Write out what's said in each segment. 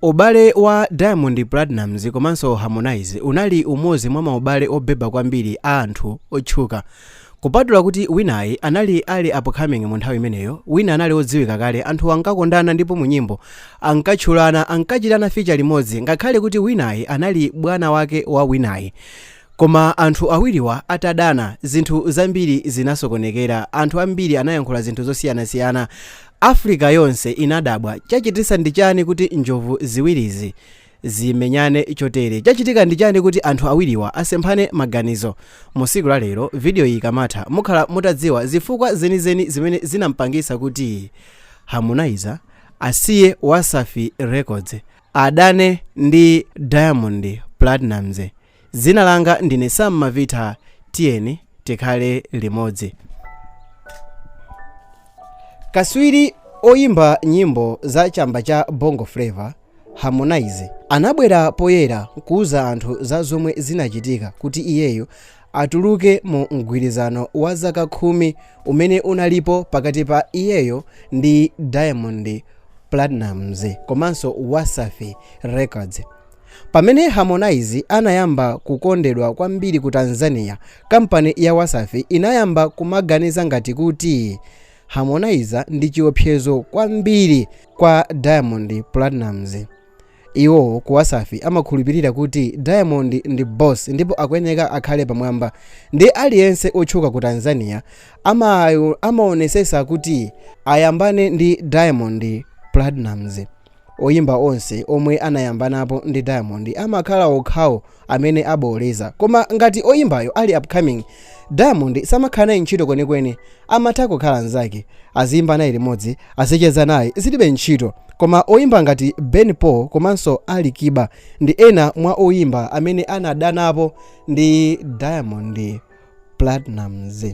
Ubale wa Diamond Platnumz komanso Harmonize unali umodzi mwa maubale obeba kwambiri a anthu otchuka. Kupatula kuti winayi anali ali upcoming mu nthawi imeneyo, wina anali odziwika kale, anthuwa ankakondana ndipo mu nyimbo ankatchulana, ankachitana feature limodzi ngakhale kuti winayi anali bwana wake wa winayi. Koma anthu awiriwa atadana, zinthu zambiri zinasokonekera, anthu ambiri anayankhula zinthu zosiyanasiyana, Africa yonse inadabwa, chachitisa ndi chani kuti njovu ziwirizi zimenyane chotere? Chachitika ndi chani kuti anthu awiriwa asemphane maganizo? Mu siku la lero video iyi ikamatha mukhala mutadziwa zifukwa zenizeni zimene zinampangisa kuti Harmonize asiye Wasafi Records adane ndi Diamond Platnumz. Dzina langa ndine Sam Mavitha tiyeni tikhale limodzi. Kaswiri oyimba nyimbo za chamba cha Bongo Flava, Harmonize, anabwera poyera kuuza anthu za zomwe zinachitika kuti iyeyo atuluke mu mgwirizano wa zaka khumi umene unalipo pakati pa iyeyo ndi Diamond Platnumz komanso Wasafi Records. Pamene Harmonize anayamba kukondedwa kwambiri ku Tanzania, kampani ya Wasafi inayamba kumaganiza ngati kuti Harmonize ndi chiopsezo kwambiri kwa Diamond Platnumz. Iwo ku Wasafi amakhulupirira kuti Diamond ndi boss ndipo akuyeneka akhale pamwamba. Nde aliyense otchuka ku Tanzania amaonesesa kuti ayambane ndi Diamond Platnumz. Oyimba onse omwe anayambanapo ndi Diamond amakhala okhawo amene abooleza koma ngati oyimbayo ali upcoming Diamond samakhala naye ntchito kwenikweni amatha kukhala nzake aziyimba naye limodzi azicheza naye zilibe ntchito koma oyimba ngati Ben Pol komanso Ali Kiba ndi ena mwa oyimba amene anadanapo ndi Diamond Platnumz.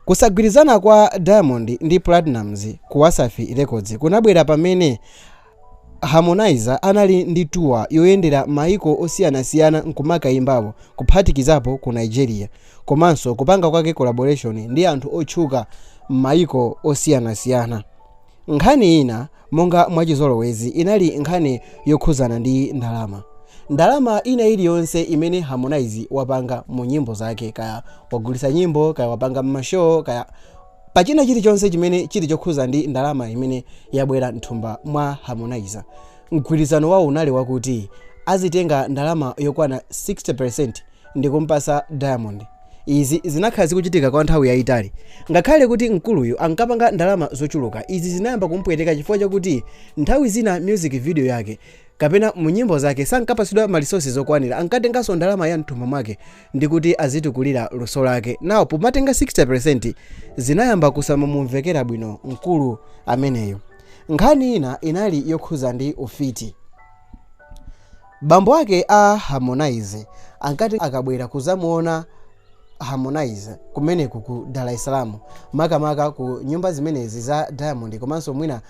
Kusagwirizana kwa Diamond ndi Platnumz ku Wasafi Records kunabwera pamene Harmonize anali ndi tour yoyendera mayiko osiyanasiyana nkumakayimbapo kuphatikizapo ku Nigeria komanso kupanga kwake collaboration ndi anthu otchuka m'mayiko osiyanasiyana. Nkhani ina monga mwachizolowezi inali nkhani yokhuzana ndi ndalama. Ndalama ina iliyonse imene Harmonize wapanga mu nyimbo zake kaya wagulisa nyimbo kaya wapanga mma show kaya pa china chilichonse chimene chili chokhuza ndi ndalama imene yabwera mthumba mwa Harmonize mgwirizano wawo unali wakuti azitenga ndalama yokwana 60% ndi kum'patsa Diamond. Izi zinakhala zikuchitika kwa nthawi yaitali. Ngakhale kuti mkuluyu ankapanga ndalama zochuluka, izi zinayamba kumupweteka chifukwa chakuti nthawi zina music video yake kapena mu nyimbo zake sankapatsidwa ma resources okwanira. Ankatenganso ndalama ya m'thumba mwake ndi kuti azitukulira luso lake. Now pomatenga 60% zinayamba kusamamumvekera bwino mkulu ameneyo. Nkhani ina inali yokhudza ndi ufiti. Bambo ake a Harmonize ankati akabwera kudzamuona Harmonize kumeneku ku Dar es Salaam, makamaka ku nyumba zimenezi za Diamond komanso mwina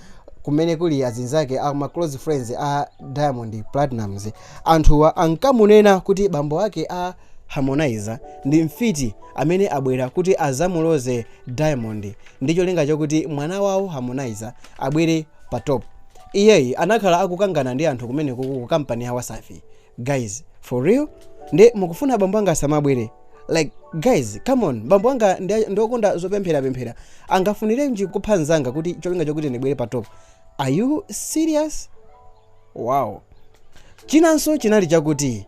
kumene kuli azinzake a ma close friends a Diamond Platnumz, anthuwa ankamunena kuti bambo ake a Harmonize ndi mfiti amene abwera kuti adzamuloze Diamond ndi cholinga chokuti mwana wawo Harmonize abwere pa top. iyeyi anakhala akukangana ndi anthu kumeneku ku ku company ya Wasafi guys for real? nde mukufuna bambo anga asamabwere? like guys come on bambo anga ndi okonda zopemphera pemphera angafunirenji kupha nzanga kuti cholinga chokuti ndibwere pa top are you serious wow chinanso chinali chakuti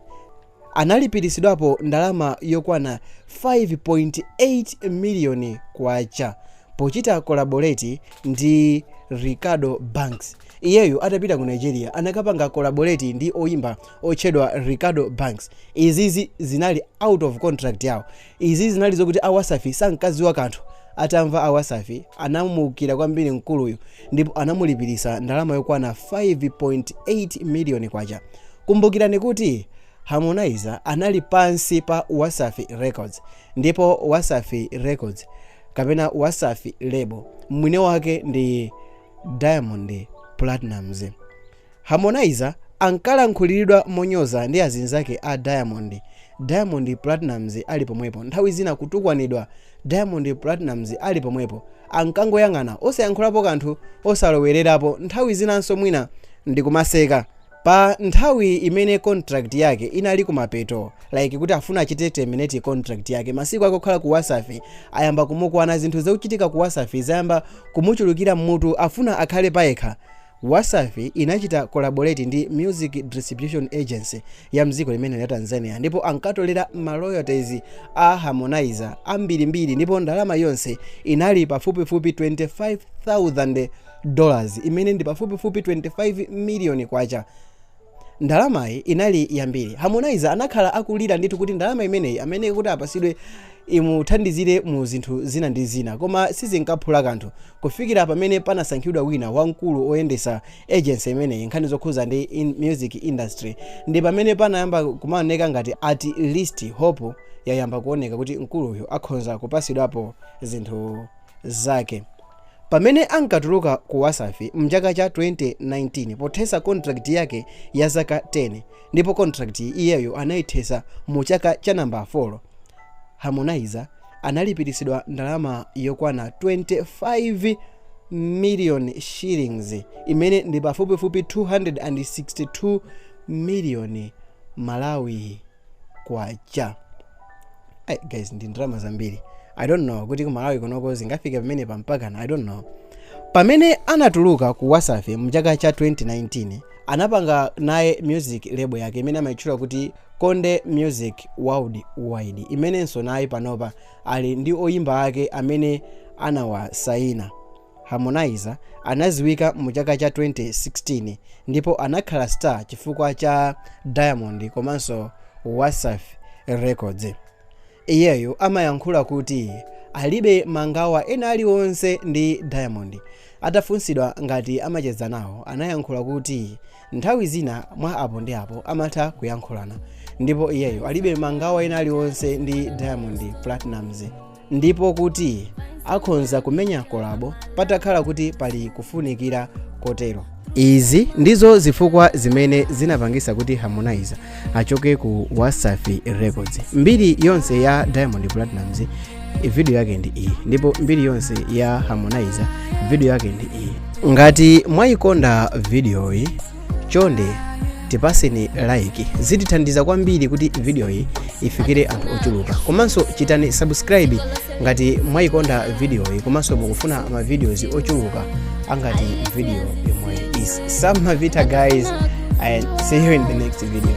analipiritsidwapo ndalama yokwana 5.8 miliyoni kwacha pochita collaborate ndi Reekado Banks. Iyeyo atapita ku Nigeria anakapanga collaborate ndi oyimba otchedwa Reekado Banks. Izizi zinali out of contract yawo Izi zinali zokuti a Wasafi sankadziwa kanthu. Atamva a Wasafi anamuukira kwambiri mkuluyu ndipo anamulipiritsa ndalama yokwana 5.8 miliyoni kwacha. Kumbukirani kuti Harmonize anali pansi pa Wasafi Records ndipo Wasafi Records kapena Wasafi Label mwine wake ndi Diamond Platnumz. Harmonize ankalankhuliridwa monyoza ndi azinzake a Diamond, Diamond Platnumz ali pomwepo, nthawi zina kutukwanidwa Diamond Platnumz ali pomwepo, ankangoyang'ana osayankhulapo kanthu, osalowererapo, nthawi zinanso mwina ndikumaseka. Pa nthawi imene contract yake inali kumapeto, like kuti afuna achite terminate contract yake, masiku ake okhala ku Wasafi ayamba kumukwana, zinthu zochitika ku Wasafi zayamba kumuchulukira mmutu, afuna akhale payekha, Wasafi inachita collaborate ndi Music Distribution Agency ya mdziko limenelo ya Tanzania ndipo ankatolera ma royalties a Harmonize ambirimbiri ndipo ndalama yonse inali pafupifupi 25,000 dollars imene ndi pafupifupi 25 million kwacha. Ndalamayi inali yambiri. Harmonize anakhala akulira ndithu kuti ndalama imeneyi amayeneka kuti apasidwe imuthandizire mu zinthu zina ndi zina koma sizinkaphula kanthu kufikira pamene panasankhidwa wina wamkulu oyendesa agency imeneyi nkhani zokhuza ndi music industry ndi pamene panayamba kumaoneka ngati at least hope yayamba kuoneka kuti mkuluyu akhonza kupasidwapo zinthu zake. Pamene ankatuluka ku Wasafi mchaka cha 2019 pothesa contract yake ya zaka 10 ndipo contract iyeyo anaithesa mu chaka cha number 4, Harmonize analipiritsidwa ndalama yokwana 25 million shillings imene ndi pafupifupi 262 million Malawi. kwacha Ay, guys ndi ndalama zambiri i don't know kuti ku malawi kunoko zingafike pamene pampakana i don't know pamene anatuluka ku wasafi mchaka cha 2019 anapanga naye music label yake imene amayitchula kuti konde music worldwide imenenso naye panopa ali ndi oyimba ake amene anawasayina Harmonize anaziwika mu chaka cha 2016 ndipo anakhala star chifukwa cha Diamond komanso Wasafi Records. Iyeyo amayankhula kuti alibe mangawa ena aliwonse ndi Diamond. Atafunsidwa ngati amacheza nawo, anayankhula kuti nthawi zina mwa apo ndi apo amatha kuyankhulana ndipo iyeyo alibe mangawa ena aliwonse ndi Diamond Platnumz. ndipo kuti akhonza kumenya kolabo patakhala kuti pali kufunikira kotero izi ndizo zifukwa zimene zinapangisa kuti harmonize achoke ku wasafi records mbiri yonse ya diamond platnumz video yake ndi iyi ndipo mbiri yonse ya harmonize video yake ndi iyi ngati mwayikonda videoyi chonde tipaseni like zitithandiza kwambiri kuti vidiyoyi ifikire anthu ochuluka komanso chitani subscribe ngati mwayikonda vidiyoyi komanso mukufuna mavidiyozi ochuluka angati vidiyo yomweyi sam mavita guys and see you in the next video